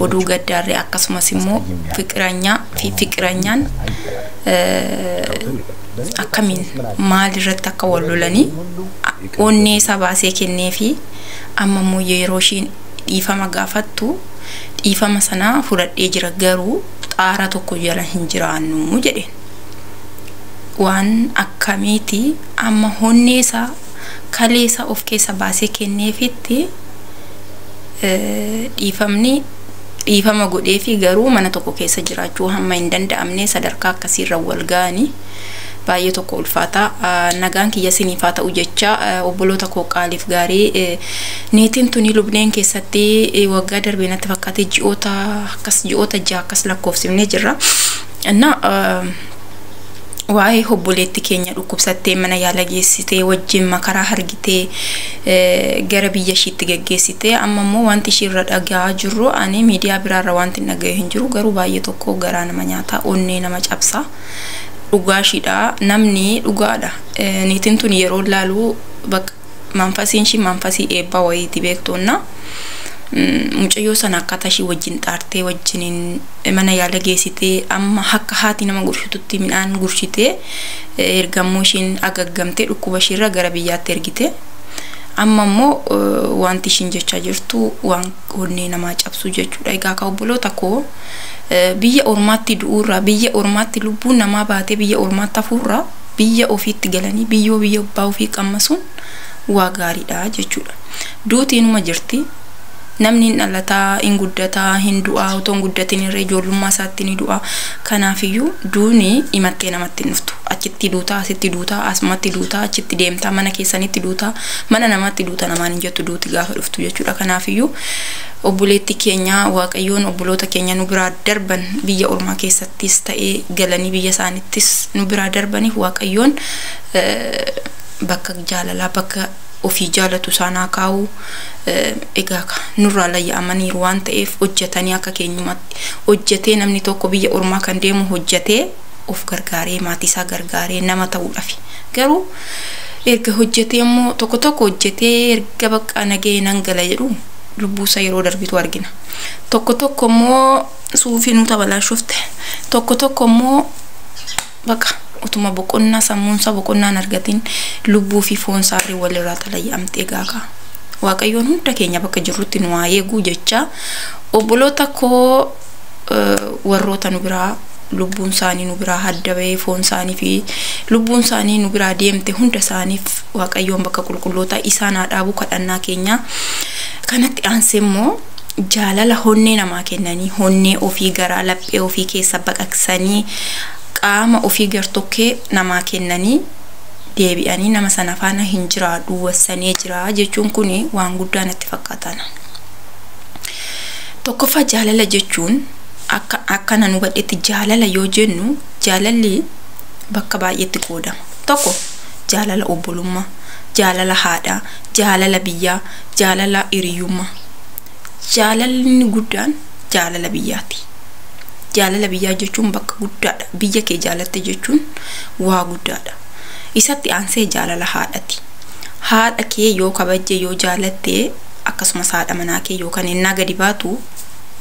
oduu gaddaarree akkasumas immoo fiqiranyaa fi fiqiranyaan akkamiin maalirratti akka wal lolanii onnee isaa baasee kennee fi amma immoo yeroo ishiin dhiifama gaafattu dhiifama sanaa fudhadhee jira garuu xaara tokko jala hin jiraannu jedheen. Waan akkamiiti amma onnee isaa kalee isaa of keessa baasee kenneefitti Dhiifamni dhiifama godheefi garuu mana tokko keessa jiraachuu hamma hin danda'amne sadarkaa akkasiirra wal ga'anii baay'ee tokko ulfaata. Nagaan kiyya siniif haa ta'u jecha obboloota koo qaaliif gaarii niitiin tuni lubneen keessatti waggaa darbee natti fakkaate ji'oota akkas ji'oota ja'a akkas lakkoofsifnee jirra. Innaa waa'ee obboleetti keenya dhukkubsattee mana yaala geessitee wajjin makaraa hargitee gara biyya ishiitti geggeessitee amma immoo wanti ishii irra dhaga'aa jirru ani miidiyaa biraarra wanti hin dhaga'e hin jiru garuu baay'ee tokko garaa nama nyaata onnee nama cabsa dhugaa ishiidha namni dhugaadha niitiin tun yeroo laaluu bakka Manfasiin ishii manfasii eebbaa wayiiti beektuunna. Mucayyoo sana akkaataa ishii wajjin xaartee wajjiniin mana yaala geessitee amma akka haati nama gurshitutti midhaan gurshitee ergammoo ishiin agaggamtee dhukkuba ishiirra gara biyyaatti ergite. Amma immoo wanti ishiin jechaa jirtu waan onnee namaa cabsuu jechuudha. Egaa akka obboloota koo biyya ormaatti du'uurraa biyya ormaatti lubbuun namaa baatee biyya ormaatti hafuurraa biyya ofiitti galanii biyyoo biyya abbaa ofii qammasuun waa gaariidha jechuudha. Duuti inuma jirti. Namni hin dhalata, hin guddata, hin du'a, otoo hin guddatin irra ijoollummaa isaatti ni du'a. Kanaafiyyuu duuni imattee namatti hin dhuftu. Achitti duuta, asitti duuta, asumatti duuta, achitti deemta, mana keessanitti duuta, mana namaatti duuta namaan hin jettu duuti gaafa dhuftu jechuudha. Kanaafiyyuu obboleettii keenya Waaqayyoon obboloota keenya nu biraa darban biyya ormaa keessatti. ttis ta'ee galanii biyya isaanittis nu biraa darbaniif waaqayyoon bakka jaalalaa bakka ofii jaalatu isaan haa kaa'u egaa ka nurraa layya'amaniiru waan ta'eef hojjetanii akka keenyumatti hojjetee namni tokko biyya ormaa kan deemu hojjetee of gargaaree maatii isaa gargaaree nama ta'uudhafi garuu erga hojjetee immoo tokko tokko hojjetee erga baqqaa nagahee nan gala jedhu lubbuusa yeroo darbitu argina tokko tokko immoo suufii nu tabalaashofte tokko tokko immoo baqa utuma boqonnaa sammuunsaa boqonnaan argatiin lubbuu fi foonsaatiin walirraa xalaya'amtee gaakaa waaqayyoon hunda keenya bakka jirrutti nu haa eeguu jechaa obboloota koo warroota nu biraa lubbuun isaanii nu biraa hadda ba'ee foon isaanii fi lubbuun isaanii nu biraa deemte hunda isaaniif waaqayyoon bakka qulqullootaa isaan haa dhaabuu kadhannaa keenyaa kanatti aansee immoo jaalala honnee namaa kennanii, honnee ofii garaa laphee ofii keessa baqaqsanii, qaama ofii gartokkee namaa kennanii deebi'anii nama sana faana hin jiraadhu wassanee jira jechuun kun waan guddaa natti fakkaata ana. Tokkoffaa jaalala jechuun akka akka nan hubadhetti jaalala yoo jennu jaalalli bakka baay'eetti qoodama. Tokko jaalala obbolummaa, jaalala haadhaa, jaalala biyyaa, jaalala hiriyyummaa. Jaalalli inni guddaan jaalala biyyaati. Jaalala biyyaa jechuun bakka guddaadha. Biyya kee jaalatte jechuun waa guddaadha. Isatti aansee jaalala haadhati. Haadha kee yoo kabajje yoo jaalatte akkasumas haadha manaa kee yookaan ennaa gadi baatu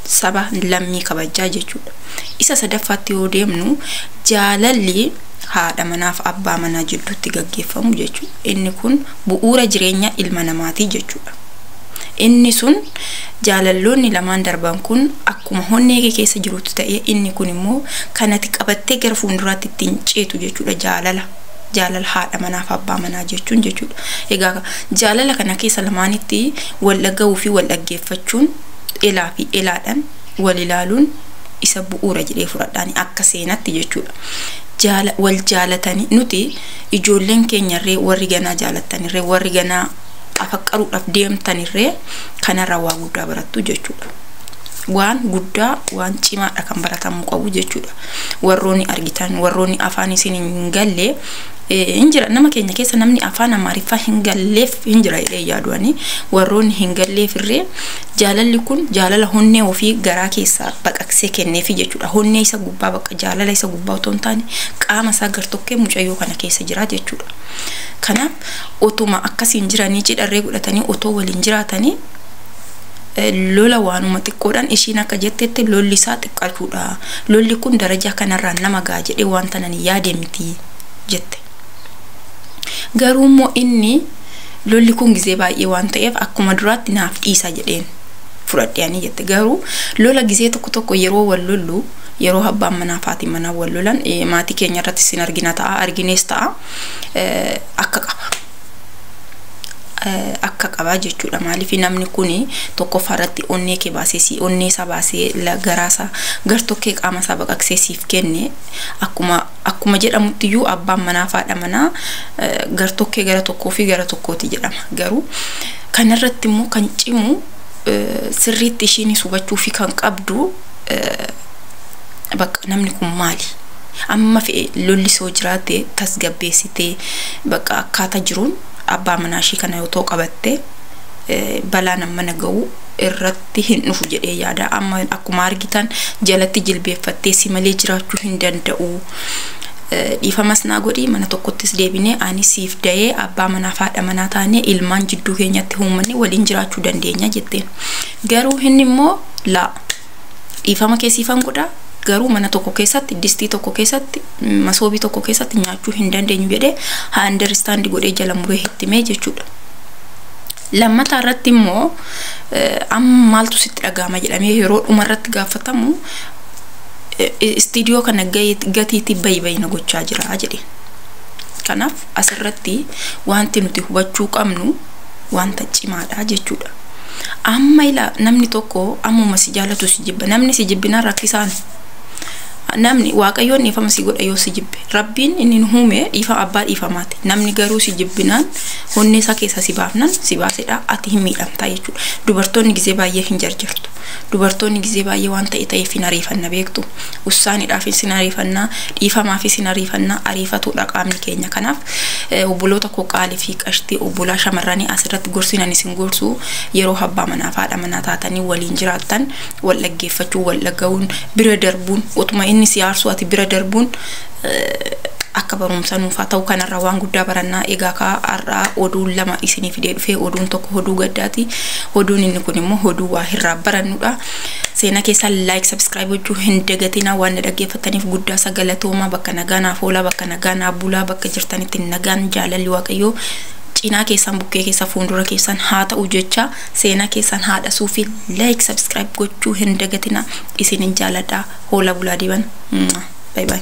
saba lammii kabajjaa jechuudha. Isa sadaffaatti yoo deemnu jaalalli haadha manaaf abbaa manaa jidduutti gaggeeffamu jechuudha. Inni kun bu'uura jireenya ilma namaati jechuudha. Inni sun jaalalloonni lamaan darban kun akkuma honnee kee keessa jirutti ta'ee inni kun immoo kan ati qabattee gara fuulduraatti ittiin ceetu jechuudha jaalala. Jaalala haadha manaaf abbaa manaa jechuun jechuudha. Egaa jaalala kana keessa lamaanitti wal dhaga'uu fi wal dhaggeeffachuun elaa fi elaadhaan wal ilaaluun isa bu'uura jedhee fudhadhaani akka seenatti jechuudha. Jaala, wal jaalatanii nuti ijoolleen keenyarree warri ganaa jaalattanirree warri ganaa afaqqaruudhaaf deemtanirree kanarraa waa guddaa barattu jechuudha. Waan guddaa waan cimaadha kan baratamuu qabu jechuudha. Warroonni argitan warroonni afaan isin hin galle hin jira nama keenya keessa namni afaan amaariffaa hin galleef hin jira jedhee yaadu'anii warroonni hin galleefirree Jaalalli kun jaalala honnee ofii garaa keessaa baqaqsee kenneefi jechuudha. Honnee isa gubbaa bakka jaalala isa gubbaa otoo hin taane qaama isaa gartokkee mucayyoo kana keessa jira jechuudha. Kanaaf otuma akkasiin jiranii cidharree godhatanii otoo waliin jiraatanii lola waanuma xiqqoodhaan ishiin akka jettetti lolli isaa xiqqaachuudha. Lolli kun darajaa kanarraan nama ga'a jedhee wanta nan yaade miti jette. Garuu immoo inni lolli kun gizee baay'ee waan ta'eef akkuma duraatti naaf dhiisaa jedheen fudhadhe ani jette. Garuu lola gizee tokko tokko yeroo wal lollu yeroo abbaan manaa fi haati manaa wal lolan eh, maatii keenya irratti sin argina ta'a arginees ta'a eh, akka qaba. eh, akka qaba jechuudha maaliif namni kun tokkoffaa irratti onnee kee baasee si onnee isaa baasee la- garaa isaa gartokkee qaama isaa baqaqsee siif kenne akkuma Akkuma jedhamutti iyyuu abbaan manaa fi haadha manaa gartokkee gara tokkoo fi gara tokkooti jedhama. Garuu kanarratti immoo kan cimu sirriitti ishiinis hubachuu fi kan qabdu bakka namni kun maali? Amma fe'e lolli soo jiraate tasgabbeessitee bakka akkaataa jiruun abbaa manaa ishii kana yoo ta'u qabatte balaan amma na ga'u irratti sitti hin dhufu jedhee yaada. Amma akkuma argitan jalatti jilbeeffattee si malee jiraachuu hin danda'u. Dhiifamas naa godhi mana tokkottis deebinee ani siif dayee abbaa manaa fi haadha manaa taanee ilmaan jidduu keenyatti uummanni waliin jiraachuu dandeenya jetteen. Garuu inni immoo laa dhiifama kee siifan godha garuu mana tokko keessatti distii tokko keessatti masoobii tokko keessatti nyaachuu hin dandeenyu jedhee haa understand godhee jala muree hitti mee jechuudha. Lammataa irratti immoo amma maaltu sitti dhaga'ama jedhamee yeroo dhuma irratti gaafatamu istiidiyoo kana gatiitii bayi bayi na gochaa jira jedhe. Kanaaf asirratti wanti nuti hubachuu qabnu wanta cimaadha jechuudha. Amma ilaa namni tokko ammuma si jaalatu si jibba namni si jibbinaan rakkisaan namni waaqayyoon dhiifama si godha yoo si jibbe rabbiin inni nu uume dhiifama abbaa dhiifamaati namni garuu si jibbinaan onnee isaa keessaa si baafnan si baasedha ati hin miidhamtaa jechuudha dubartoonni gizee baay'ee hin jarjartu dubartoonni gizee baay'ee waan ta'e ta'eef hin ariifanna beektu ussaaniidhaaf isin ariifannaa dhiifamaaf isin ariifannaa ariifatuudha qaamni keenya kanaaf eh, obboloota koo qaalii fi qashtii obbolaa shamarranii asirratti gorsinan isin gorsu yeroo abbaa manaa fi haadha manaa taatanii waliin jiraattan wal dhaggeeffachuun wal dhaga'uun bira darbuun utuma inni si aarsuu ati bira darbuun akka barumsa nuufaa ta'u kanarraa waan guddaa barannaa egaa kaa har'aa oduun lama isinii fidee dhufee oduun tokko oduu gaddaati oduun inni kun immoo oduu waa irraa barannudha seenaa keessaa laayik sabskiraayib gochuu hin dagatinaa waan na dhaggeeffattaniif guddaa isa galatoomaa bakka nagaa naaf oolaa bakka nagaa naaf bulaa bakka jirtanitti nagaan jaalalli waaqayyoo cinaa keessan bukkee keessa fuuldura keessan haa ta'u jecha Seena keessan haadha suufi like subscribe gochuu hin dagatina isinin jaaladha hoola bulaa diban bye bye.